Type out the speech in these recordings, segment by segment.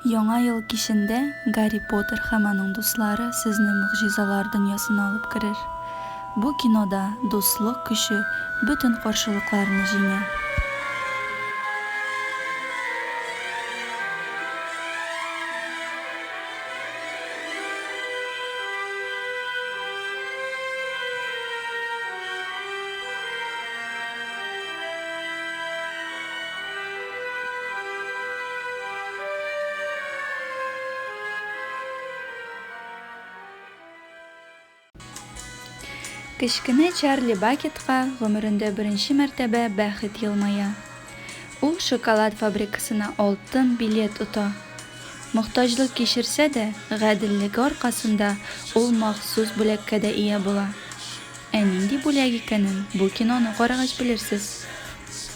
Яңа ел кичендә Гарри Поттер һәм аның дуслары сезне могҗизалар дөньясына алып керер. Бу кинода дуслык көче бөтен каршылыкларны җиңә. Кечкенә Чарли Бакетка гомерендә беренче мәртәбә бәхет елмая. Ул шоколад фабрикасына алтын билет ота. Мохтаҗлык кичерсә дә, гаделлеге аркасында ул махсус бүләккә дә ия була. Ә нинди бүләк икәнен бу киноны карагач белерсез.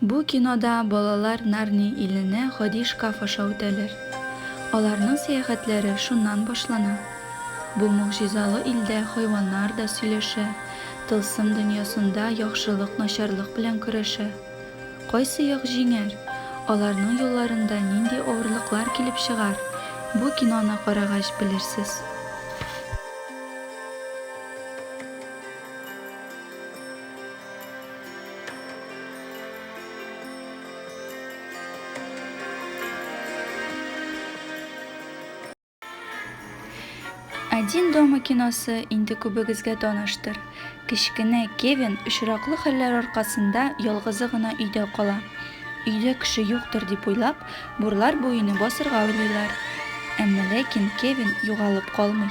Бу кинода балалар Нарни иленә гади шкаф аша үтәләр. Аларның сәяхәтләре шуннан башлана. Бу могҗизалы илдә хайваннар да сөйләшә, тылсым дөньясында яхшылык начарлык белән көрәшә. Кайсы як җиңәр, аларның юлларында нинди авырлыклар килеп чыгар, бу киноны карагач белерсез. Один дома киносы инде күбегезгә таныштыр. Кечкенә Кевин очраклы хәлләр аркасында ялгызы гына өйдә кала. Өйдә кеше юктыр дип уйлап, бурлар буены басырга уйлыйлар. Әмма ләкин Кевин югалып калмый.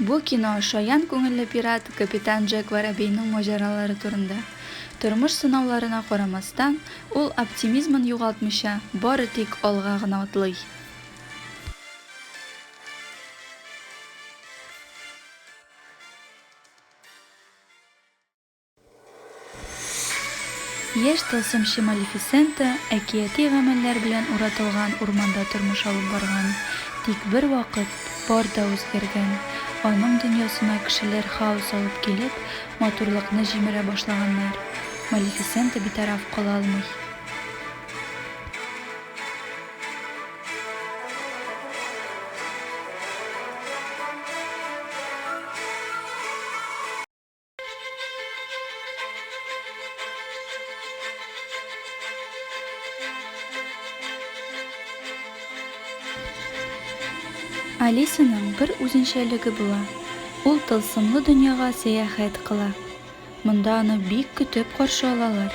Бу кино шаян күңелле пират капитан Джек Воробейның маҗаралары турында. Тормыш сынауларына карамастан, ул оптимизмын югалтмыйча, бары тик алга гына атлый. Яшь тылсымчы Малефисента әкияти гамәлләр белән уратылган урманда тормыш алып барган. Тик бервакыт бар да үзгәргән. Аның дөньясына кешеләр хаос алып килеп, матурлыкны җимерә башлаганнар. Малефисента битараф кала алмый. Алисаның бер үзенчәлеге була, ул тылсымлы дөньяга сәяхәт кыла. Монда аны бик көтеп каршы алалар.